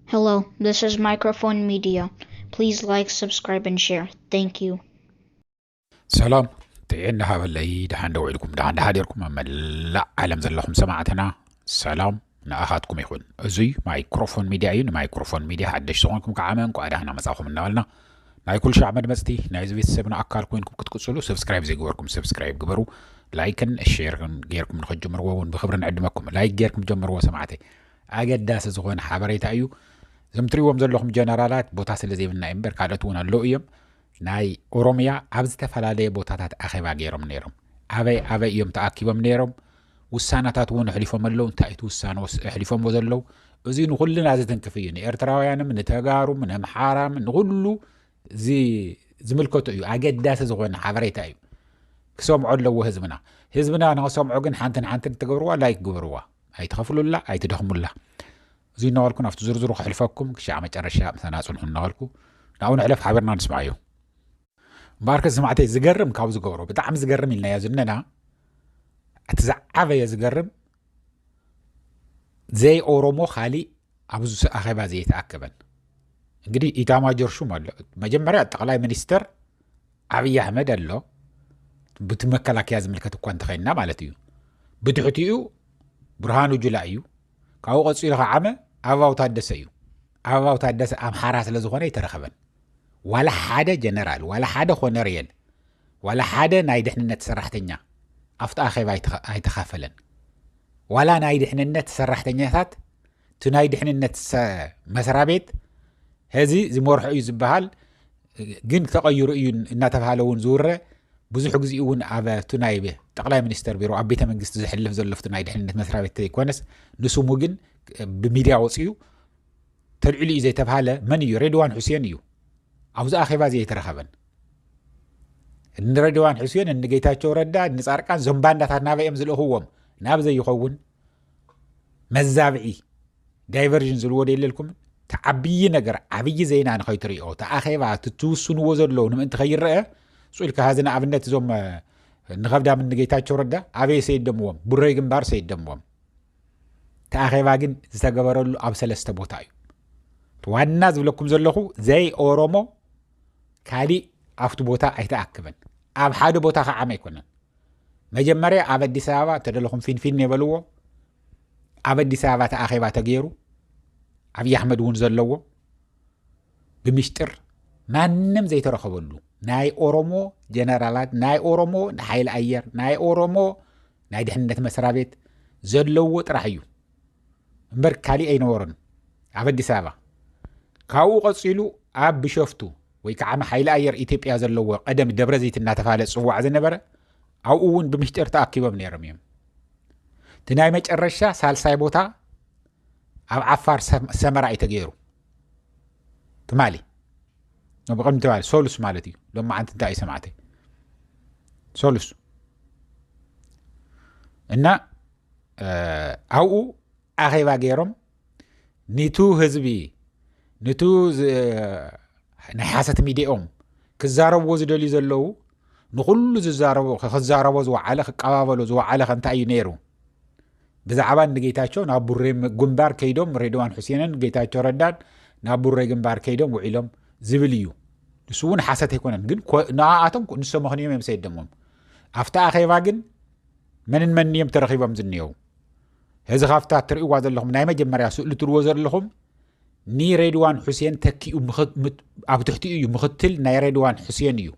Hello, this is Microphone Media. Please like, subscribe, and share. Thank you. ሰላም ጥዕና ሃበለይ ደሓን ዶ ውዒልኩም ደሓን ደሓዲርኩም ኣብ መላእ ዓለም ዘለኹም ሰማዕትና ሰላም ንኣኻትኩም ይኹን እዙይ ማይክሮፎን ሚድያ እዩ ንማይክሮፎን ሚድያ ሓደሽ ዝኾንኩም ከዓ እንኳዕ ደሓና መፃኹም እናበልና ናይ ኩልሻዕ መድመፅቲ ናይዚ ቤተሰብና ኣካል ኮይንኩም ክትቅፅሉ ሰብስክራይብ ዘይገበርኩም ሰብስክራይብ ግበሩ ላይክን ሼርን ጌርኩም ንኸጀምርዎ እውን ብክብሪ ንዕድመኩም ላይክ ጌርኩም ጀምርዎ ሰማዕተይ ኣገዳሲ ዝኾነ ሓበሬታ እዩ እዞም ትሪዎም ዘለኹም ጀነራላት ቦታ ስለ ዘይብልና እዩ እምበር ካልኦት እውን ኣለዉ እዮም ናይ ኦሮምያ ኣብ ዝተፈላለየ ቦታታት ኣኼባ ገይሮም ነይሮም ኣበይ ኣበይ እዮም ተኣኪቦም ነይሮም ውሳነታት እውን ኣሕሊፎም ኣለው እንታይ እቲ ውሳነ ኣሕሊፎምዎ ዘለው እዚ ንኩልና ዝትንክፍ እዩ ንኤርትራውያንም ንተጋሩም ነምሓራም ንኩሉ ዝምልከቱ እዩ ኣገዳሲ ዝኮነ ሓበሬታ እዩ ክሰምዖ ኣለዎ ህዝብና ህዝብና ንክሰምዖ ግን ሓንትን ሓንትን ትገብርዋ ላይክ ግበርዋ ኣይትኸፍሉላ ኣይትደኽሙላ እዚ እናበልኩ ናብቲ ዝርዝሩ ክሕልፈኩም ክሻዕ መጨረሻ ምሳና ፅንሑ እናበልኩ ናብኡ ንሕለፍ ሓበርና ንስምዓዮ እምበኣርከ ሰማዕተይ ዝገርም ካብ ዝገብሮ ብጣዕሚ ዝገርም ኢልናዮ ዝነና እቲ ዝዓበየ ዝገርም ዘይ ኦሮሞ ካሊእ ኣብዚ ኣኼባ ዘይተኣከበን እንግዲህ ኢታማጆር ሹም ኣሎ መጀመርያ ጠቅላይ ሚኒስትር ዓብዪ ኣሕመድ ኣሎ ብቲ መከላከያ ዝምልከት እኳ እንተኸይንና ማለት እዩ ብትሕቲኡ ብርሃኑ ጁላ እዩ ካብኡ ቀፂሉ ከዓመ ኣባው ታደሰ እዩ ኣበባው ታደሰ ኣምሓራ ስለ ዝኾነ ኣይተረኸበን ዋላ ሓደ ጀነራል ዋላ ሓደ ኮነርየል ዋላ ሓደ ናይ ድሕንነት ሰራሕተኛ ኣብቲ ኣኼባ ኣይተኻፈለን ዋላ ናይ ድሕንነት ሰራሕተኛታት እቲ ናይ ድሕንነት መስራ ቤት ሕዚ ዝመርሖ እዩ ዝበሃል ግን ተቐይሩ እዩ እናተባሃለ እውን ዝውረ ብዙሕ ግዜ እውን ኣብ እቲ ናይ ጠቕላይ ሚኒስተር ቢሮ ኣብ ቤተ መንግስቲ ዝሕልፍ ዘሎፍቲ ናይ ድሕንነት መስራ ቤት ዘይኮነስ ንስሙ ግን ብሚድያ ወፅኡ ተልዒሉ እዩ ዘይተብሃለ መን እዩ ሬድዋን ሑሴን እዩ ኣብዚ ኣኼባ እዚ ኣይተረኸበን እንረድዋን ሕስዮን እንጌታቸው ረዳ ንፃርቃን ዞም ባንዳታት ናበይ እዮም ዝልእኽዎም ናብ ዘይኸውን መዛብዒ ዳይቨርዥን ዝልዎ ደየለልኩምን እቲ ዓብዪ ነገር ዓብዪ ዜና ንኸይትሪኦ እቲ ኣኼባ ትትውስንዎ ዘለዉ ንምእንቲ ከይረአ ስኢልካ ሀዚ ንኣብነት እዞም ንኸብዳም እንጌታቸው ረዳ ኣበየ ሰይደምዎም ቡረይ ግንባር ሰይደምዎም እቲ ኣኼባ ግን ዝተገበረሉ ኣብ ሰለስተ ቦታ እዩ ዋና ዝብለኩም ዘለኹ ዘይ ኦሮሞ ካሊእ ኣብቲ ቦታ ኣይተኣክበን ኣብ ሓደ ቦታ ከዓመ ኣይኮነን መጀመርያ ኣብ ኣዲስ ኣበባ ተደለኹም ፊንፊን የበልዎ ኣብ ኣዲስ ኣበባ ተኣኼባ ተገይሩ ኣብዪ ኣሕመድ እውን ዘለዎ ብምሽጥር ማንም ዘይተረኸበሉ ናይ ኦሮሞ ጀነራላት ናይ ኦሮሞ ሓይሊ ኣየር ናይ ኦሮሞ ናይ ድሕንነት መስራቤት ዘለዎ ጥራሕ እዩ እምበር ካሊእ ኣይነበሮን ኣብ ኣዲስ ኣበባ ካብኡ ቀፂሉ ኣብ ብሸፍቱ ወይ ከዓ ንሓይሊ ኣየር ኢትዮጵያ ዘለዎ ቀደም ደብረዘይት እናተባሃለ ፅዋዕ ዝነበረ ኣብኡ እውን ብምሽጢር ተኣኪቦም ነይሮም እዮም እቲ ናይ መጨረሻ ሳልሳይ ቦታ ኣብ ዓፋር ሰመራ እዩ ተገይሩ ትማሊ ቅድሚ ትማሊ ሰሉስ ማለት እዩ ሎሚ ዓንቲ እንታይ እዩ ሰማዕተ ሰሉስ እና ኣብኡ ኣኼባ ገይሮም ኒቱ ህዝቢ ንቱ ናይ ሓሰት ሚድኦም ክዛረብዎ ዝደልዩ ዘለዉ ንኩሉ ዝዛረቦ ክዛረቦ ዝወዓለ ክቀባበሎ ዝወዓለ ከእንታይ እዩ ነይሩ ብዛዕባ ንጌታቸው ናብ ቡሬ ግንባር ከይዶም ሬድዋን ሑሴንን ጌታቸው ረዳን ናብ ቡሬ ግንባር ከይዶም ውዒሎም ዝብል እዩ ንሱ እውን ሓሰት ኣይኮነን ግን ንኣኣቶም ንሶ ምኽንዮም እዮም ሰይደሞም ኣብቲ ኣኼባ ግን መንን መን እዮም ተረኺቦም ዝንሄው እዚ ካብታ እትርእይዋ ዘለኹም ናይ መጀመርያ ስእሊ ትርዎ ዘለኹም ንሬድዋን ሑሴን ተኪኡ ኣብ ትሕቲኡ እዩ ምክትል ናይ ሬድዋን ሑሴን እዩ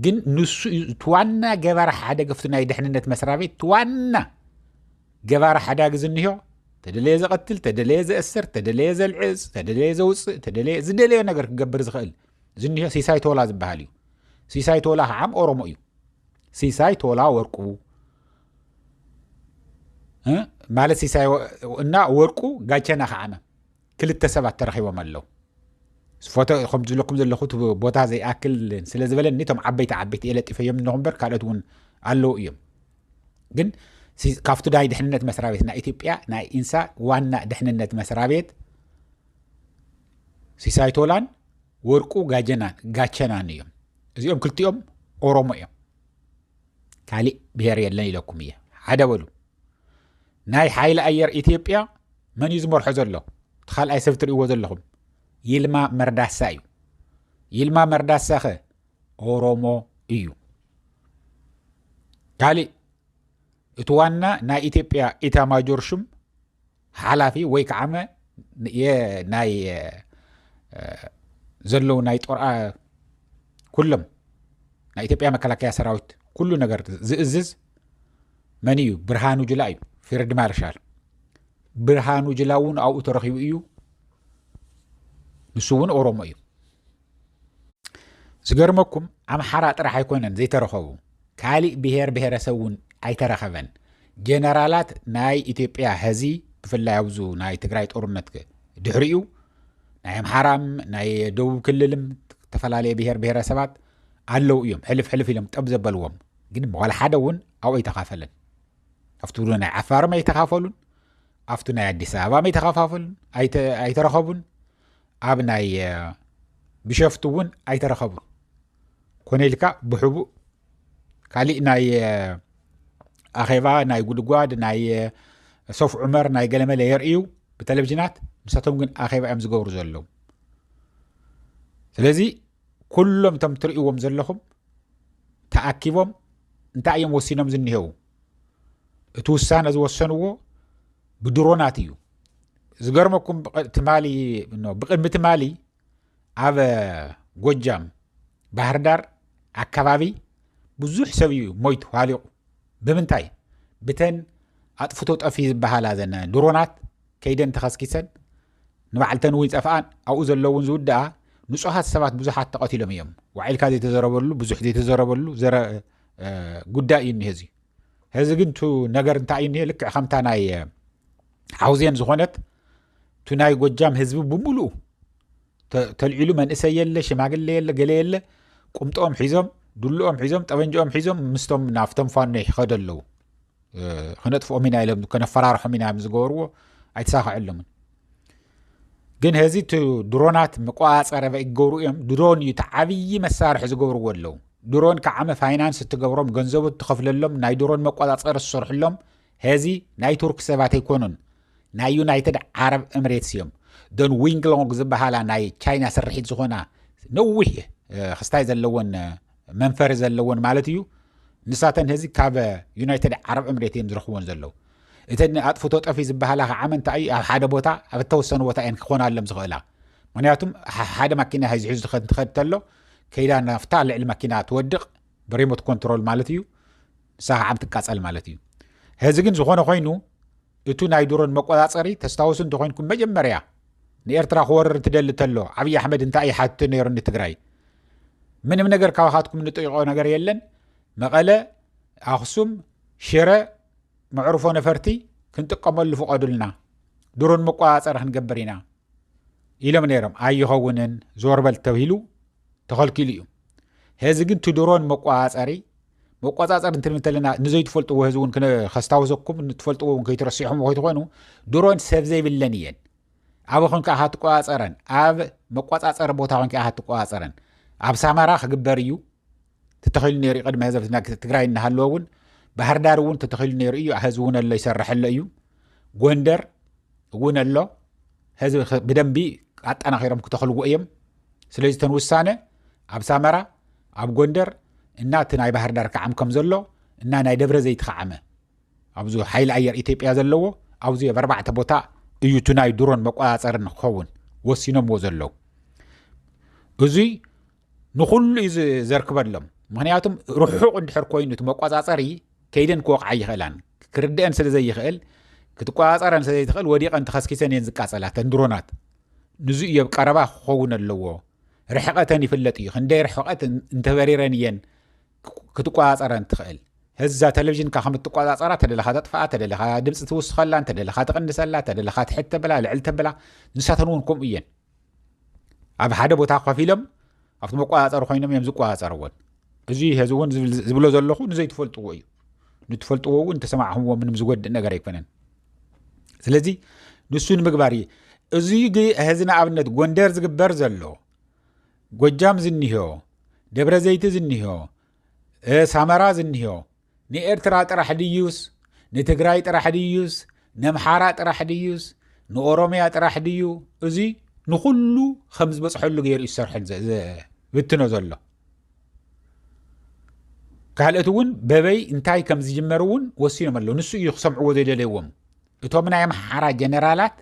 ግን ንሱ እዩ እቲ ዋና ገባሪ ሓደ ገፍቲ ናይ ድሕንነት መስሪያ ቤት እቲ ዋና ገባሪ ሓዳጊ ዝንዮ ተደለየ ዘቐትል ተደለየ ዘእስር ተደለየ ዘልዕፅ ተደለየ ዘውፅእ ተደለየ ዝደለዮ ነገር ክገብር ዝኽእል ዝንዮ ሲሳይ ቶላ ዝበሃል እዩ ሲሳይ ቶላ ከዓም ኦሮሞ እዩ ሲሳይ ቶላ ወርቁ ማለት ሲሳይ እና ወርቁ ጋቸና ከዓነ ክልተ ሰባት ተረኪቦም ኣለው ፎቶ ከም ዝለኩም ዘለኹ ቦታ ዘይኣክል ስለ ዝበለኒ እቶም ዓበይቲ ዓበይቲ እየ ለጢፈዮም ኣለኹ እምበር ካልኦት እውን ኣለዉ እዮም ግን ካብቲ ናይ ድሕንነት መስሪያ ቤት ናይ ኢትዮጵያ ናይ ኢንሳ ዋና ድሕንነት መስሪያ ቤት ሲሳይ ቶላን ወርቁ ጋቸናን እዮም እዚኦም ክልቲኦም ኦሮሞ እዮም ካሊእ ብሄር የለን ኢለኩም እየ ሓደ በሉ ናይ ሓይሊ ኣየር ኢትዮጵያ መን እዩ ዝመርሖ ዘሎ እቲ ካልኣይ ሰብ ትርእይዎ ዘለኹም ይልማ መርዳሳ እዩ ይልማ መርዳሳ ኸ ኦሮሞ እዩ ካሊእ እቲ ዋና ናይ ኢትዮጵያ ኢታማጆር ሹም ሓላፊ ወይ ከዓመ ናይ ዘለዉ ናይ ጦርኣ ኩሎም ናይ ኢትዮጵያ መከላከያ ሰራዊት ኩሉ ነገር ዝእዝዝ መን እዩ ብርሃኑ ጅላ እዩ ፊርድ ማርሻል ብርሃኑ ጅላ እውን ኣብኡ ተረኪቡ እዩ ንሱ እውን ኦሮሞ እዩ ዝገርመኩም ኣምሓራ ጥራሕ ኣይኮነን ዘይተረኸቡ ካሊእ ብሄር ብሄረሰብ እውን ኣይተረኸበን ጀነራላት ናይ ኢትዮጵያ ሀዚ ብፍላይ ኣብዙ ናይ ትግራይ ጦርነት ድሕሪኡ ናይ ኣምሓራም ናይ ደቡብ ክልልም ዝተፈላለየ ብሄር ብሄረሰባት ኣለው እዮም ሕልፍ ሕልፍ ኢሎም ጠብ ዘበልዎም ግን ዋላ ሓደ እውን ኣብኡ ኣይተኻፈለን ኣብቲ ናይ ዓፋርም ኣይተኻፈሉን ኣብቲ ናይ ኣዲስ ኣበባ ኣይተኻፋፈሉን ኣይተረኸቡን ኣብ ናይ ብሸፍቱ እውን ኣይተረኸቡን ኮነ ኢልካ ብሕቡእ ካሊእ ናይ ኣኼባ ናይ ጉድጓድ ናይ ሶፍ ዑመር ናይ ገለመለ የርእዩ ብቴሌቭዥናት ምሳቶም ግን ኣኼባ እዮም ዝገብሩ ዘለዉ ስለዚ ኩሎም እቶም ትርእዎም ዘለኹም ተኣኪቦም እንታይ እዮም ወሲኖም ዝኒሄው እቲ ውሳነ ዝወሰንዎ ብድሮናት እዩ ዝገርመኩም ትማሊ ብቅድሚ ትማሊ ኣብ ጎጃም ባህርዳር ኣካባቢ ብዙሕ ሰብ እዩ ሞይቱ ሃሊቑ ብምንታይ ብተን ኣጥፍቶ ጠፊ ዝበሃላ ዘነ ድሮናት ከይደን ተኸስኪሰን ንባዕልተን እውን ይጠፍኣን ኣብኡ ዘለውን ዝውድኣ ንፁሃት ሰባት ብዙሓት ተቐትሎም እዮም ዋዒልካ ዘይተዘረበሉ ብዙሕ ዘይተዘረበሉ ጉዳይ እዩ እኒሀ እዚ ሕዚ ግን ቱ ነገር እንታይ እዩ እኒሀ ልክዕ ከምታ ናይ ሓውዜን ዝኾነት ቱ ናይ ጎጃም ህዝቢ ብምሉኡ ተልዒሉ መንእሰይ የለ ሽማግለ የለ ገለ የለ ቁምጦኦም ሒዞም ዱልኦም ሒዞም ጠበንጅኦም ሒዞም ምስቶም ናብቶም ፋኖ ይኸደ ኣለዉ ከነጥፍኦም ኢና ኢሎም ከነፈራርሖም ኢና ዮም ዝገበርዎ ኣይተሳክዐሎምን ግን ሀዚ እቲ ድሮናት መቆፃፀሪ ይገብሩ እዮም ድሮን እዩ እቲ ዓብዪ መሳርሒ ዝገብርዎ ኣለዉ ድሮን ከዓመ ፋይናንስ እትገብሮም ገንዘቡ እትኸፍለሎም ናይ ድሮን መቆፃፀሪ ዝሰርሕሎም ሀዚ ናይ ቱርክ ሰባት ኣይኮኑን ናይ ዩናይትድ ዓረብ እምሬትስ እዮም ደን ዊንግሎንግ ዝበሃላ ናይ ቻይና ስርሒት ዝኾና ነዊሕ ክስታይ ዘለዎን መንፈሪ ዘለዎን ማለት እዩ ንሳተን ህዚ ካብ ዩናይትድ ዓረብ ዕምሬት እዮም ዝረኽብዎን ዘለዉ እተ ኣጥፍቶ ጠፊ ዝበሃላ ከዓ መንታ እዩ ኣብ ሓደ ቦታ ኣብ እተወሰኑ ቦታ እየን ክኾና ኣሎም ዝኽእላ ምክንያቱም ሓደ ማኪና ሒዝሒዙ ዝኸድ ትኸድ ተሎ ከይዳ ናፍታ ልዕሊ ማኪና ትወድቕ ብሪሞት ኮንትሮል ማለት እዩ ንሳ ከዓ ትቃፀል ማለት እዩ ህዚ ግን ዝኾነ ኮይኑ እቱ ናይ ድሮን መቆፃፀሪ ተስታውሱ እንተኾይንኩም መጀመርያ ንኤርትራ ክወርር ትደሊ ተሎ ዓብዪ ኣሕመድ እንታይ እዩ ሓትቱ ነይሩ ንትግራይ ምንም ነገር ካባኻትኩም እንጠይቆ ነገር የለን መቐለ ኣኽሱም ሽረ መዕርፎ ነፈርቲ ክንጥቀመሉ ፍቐዱልና ድሮን መቆፃፀሪ ክንገብር ኢና ኢሎም ነይሮም ኣይኸውንን ዞርበል ተብሂሉ ተኸልኪሉ እዩ ሄዚ ግን ትድሮን መቆፃፀሪ መቆፃፀር እንትንብል እንተለና ንዘይትፈልጥዎ ህዚ እውን ከስታወሰኩም ንትፈልጥዎ እውን ከይትረሲሖም ከይትኾኑ ድሮን ሰብ ዘይብለን እየን ኣብ ኮንካ ኢኻ ትቆፃፀረን ኣብ መቆፃፀሪ ቦታ ኮንካ ኢኻ ትቆፃፀረን ኣብ ሳማራ ክግበር እዩ ተተኺሉ ነይሩ እዩ ቅድሚ ህዘብ ትግራይ እናሃለወ እውን ባህር ዳር እውን ተተኺሉ ነይሩ እዩ ህዚ እውን ኣሎ ይሰርሐሎ እዩ ጎንደር እውን ኣሎ ህዚ ብደንቢ ኣጠናኺሮም ክተኽልዎ እዮም ስለዚ ተን ውሳነ ኣብ ሳመራ ኣብ ጎንደር እና እቲ ናይ ባህርዳር ክዓም ከም ዘሎ እና ናይ ደብረ ዘይት ክዓመ ኣብዚ ሓይሊ ኣየር ኢትዮጵያ ዘለዎ ኣብዚ ኣብ ኣርባዕተ ቦታ እዩ እቲ ናይ ድሮን መቆፃፀሪ ንክኸውን ወሲኖምዎ ዘለዉ እዙይ ንኩሉ እዩ ዘርክበሎም ምክንያቱም ርሑቕ እንድሕር ኮይኑ እቲ መቆፃፀሪ ከይደን ክወቕዓ ይኽእላን ክርድአን ስለ ዘይኽእል ክትቆፃፀረን ስለዘይትኽእል ወዲቐን ተኸስኪሰን እየን ዝቃፀላ ተን ድሮናት ንዙ እዮብ ቀረባ ክኸውን ኣለዎ ርሕቐተን ይፍለጥ እዩ ክንደይ ርሕቐት እንተበሪረን እየን ክትቆፃፀረን ትኽእል ህዛ ቴሌቭዥንካ ከም እትቆፃፀራ ተደለኻ ተጥፍኣ ተደለኻ ድምፂ ትውስኸላ እንተደለኻ ትቕንሰላ ተደለኻ ትሕት ተብላ ልዕል ተብላ ንሳተን እውን ከምኡ እየን ኣብ ሓደ ቦታ ኮፍ ኢሎም ኣብቲ መቆፃፀሪ ኮይኖም እዮም ዝቆፃፀርዎን እዚ ህዚ እውን ዝብሎ ዘለኹ ንዘይትፈልጥዎ እዩ ንትፈልጥዎ እውን ተሰማዕኹምዎ ምንም ዝጎድእ ነገር ኣይኮነን ስለዚ ንሱ ንምግባር እዩ እዚ ሕዚ ንኣብነት ጎንደር ዝግበር ዘሎ ጎጃም ዝኒሆ ደብረ ዘይቲ ዝኒሆ ሳመራ ዝኒሆ ንኤርትራ ጥራሕ ድዩስ ንትግራይ ጥራሕ ድዩስ ነምሓራ ጥራሕ ድዩስ ንኦሮምያ ጥራሕ ድዩ እዚ ንኩሉ ከም ዝበፅሐሉ ገይሩ ዝሰርሐ ብትኖ ዘሎ ካልኦት እውን በበይ እንታይ ከም ዝጅመር እውን ወሲኖም ኣለዉ ንሱ እዩ ክሰምዕዎ ዘይደለዎም እቶም ናይ ኣምሓራ ጀነራላት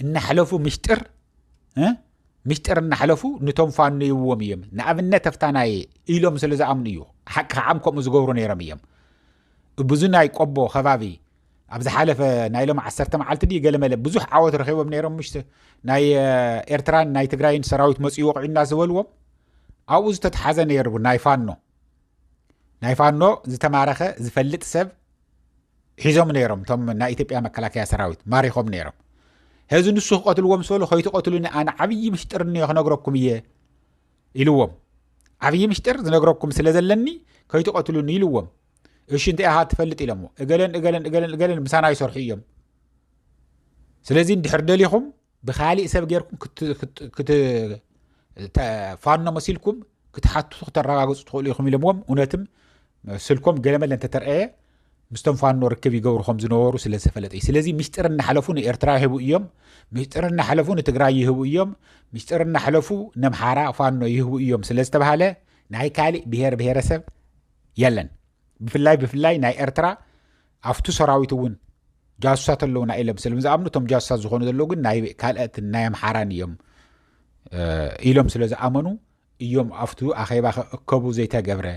እናሕለፉ ምሽጥር ምሽጥር እናሕለፉ ንቶም ፋኖ ይብዎም እዮም ንኣብነት ኣፍታናየ ኢሎም ስለ ዝኣምኑ እዩ ሓቂ ከዓም ከምኡ ዝገብሩ ነይሮም እዮም ብዙ ናይ ቆቦ ከባቢ ኣብ ዝሓለፈ ናይ ሎም ዓሰርተ መዓልቲ ድ ገለመለ ብዙሕ ዓወት ረኪቦም ነይሮም ምሽ ናይ ኤርትራን ናይ ትግራይን ሰራዊት መፅኡ ወቂዑና ዝበልዎም ኣብኡ ዝተትሓዘ ነይሩ ናይ ፋኖ ናይ ፋኖ ዝተማረኸ ዝፈልጥ ሰብ ሒዞም ነይሮም እቶም ናይ ኢትዮጵያ መከላከያ ሰራዊት ማሪኾም ነይሮም ህዚ ንሱ ክቐትልዎ ምስ በሉ ከይትቐትሉኒ ኣነ ዓብዪ ምሽጥር እኒኦ ክነግረኩም እየ ኢልዎም ዓብዪ ምሽጥር ዝነግረኩም ስለ ዘለኒ ከይትቐትሉኒ ኢልዎም እሺ እንታይ ኢኻ ትፈልጥ ኢሎሞ እገለን እገለን እገለን እገለን ምሳና ይሰርሑ እዮም ስለዚ እንድሕር ደሊኹም ብካሊእ ሰብ ገርኩም ፋኖ መሲልኩም ክትሓትቱ ክተረጋግፁ ትኽእሉ ኢኹም ኢሎምዎም እውነትም ስልኮም ገለመለ እንተተርኣየ ምስቶም ፋኖ ርክብ ይገብሩ ከም ዝነበሩ ስለ ዝተፈለጠ እዩ ስለዚ ሚስጢር እናሓለፉ ንኤርትራ ይህቡ እዮም ሚስጢር እናሓለፉ ንትግራይ ይህቡ እዮም ሚስጢር እናሓለፉ ነምሓራ ፋኖ ይህቡ እዮም ስለ ዝተባሃለ ናይ ካሊእ ብሄር ብሄረሰብ የለን ብፍላይ ብፍላይ ናይ ኤርትራ ኣፍቱ ሰራዊት እውን ጃሱሳት ኣለውና ኢሎም ስለም ዝኣምኑ እቶም ጃሱሳት ዝኾኑ ዘለዉ ግን ናይ ካልኦትን ናይ ኣምሓራን እዮም ኢሎም ስለ ዝኣመኑ እዮም ኣብቱ ኣኼባ ክእከቡ ዘይተገብረ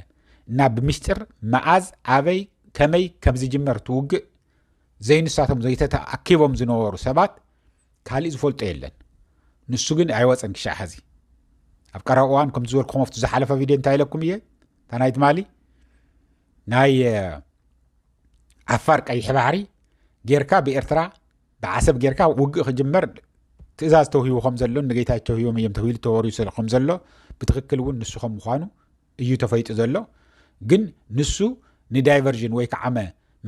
እና ብምስጢር መኣዝ ኣበይ ከመይ ከም ዝጅመር ትውግእ ዘይንሳቶም ዘይተተኣኪቦም ዝነበሩ ሰባት ካሊእ ዝፈልጦ የለን ንሱ ግን ኣይወፀን ክሻዕ ሐዚ ኣብ ቀረባ እዋን ከምቲ ዝበልኩ ከመፍቱ ዝሓለፈ ቪድዮ እንታይ ኢለኩም እየ እታ ናይ ትማሊ ናይ ዓፋር ቀይሕ ባሕሪ ጌርካ ብኤርትራ ብዓሰብ ጌርካ ውግእ ክጅመር ትእዛዝ ተውሂቡ ከም ዘሎን ንጌታቸው ሂቦም እዮም ተብሂሉ ተወሪዩ ከም ዘሎ ብትክክል እውን ንሱ ከም ምኳኑ እዩ ተፈይጡ ዘሎ ግን ንሱ ንዳይቨርዥን ወይ ከዓመ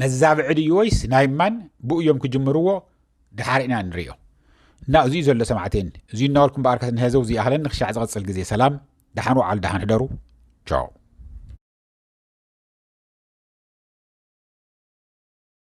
መዛብዒ ድዩ ወይስ ናይ ማን ብኡ እዮም ክጅምርዎ ድሓር ኢና ንሪኦ እና እዚዩ ዘሎ ሰማዕቴን እዚ እናበልኩም በኣር ከትንሄዘው ዝይኣህለን ንክሻዕ ዝቐፅል ግዜ ሰላም ደሓን ውዓል ደሓን ሕደሩ ቻው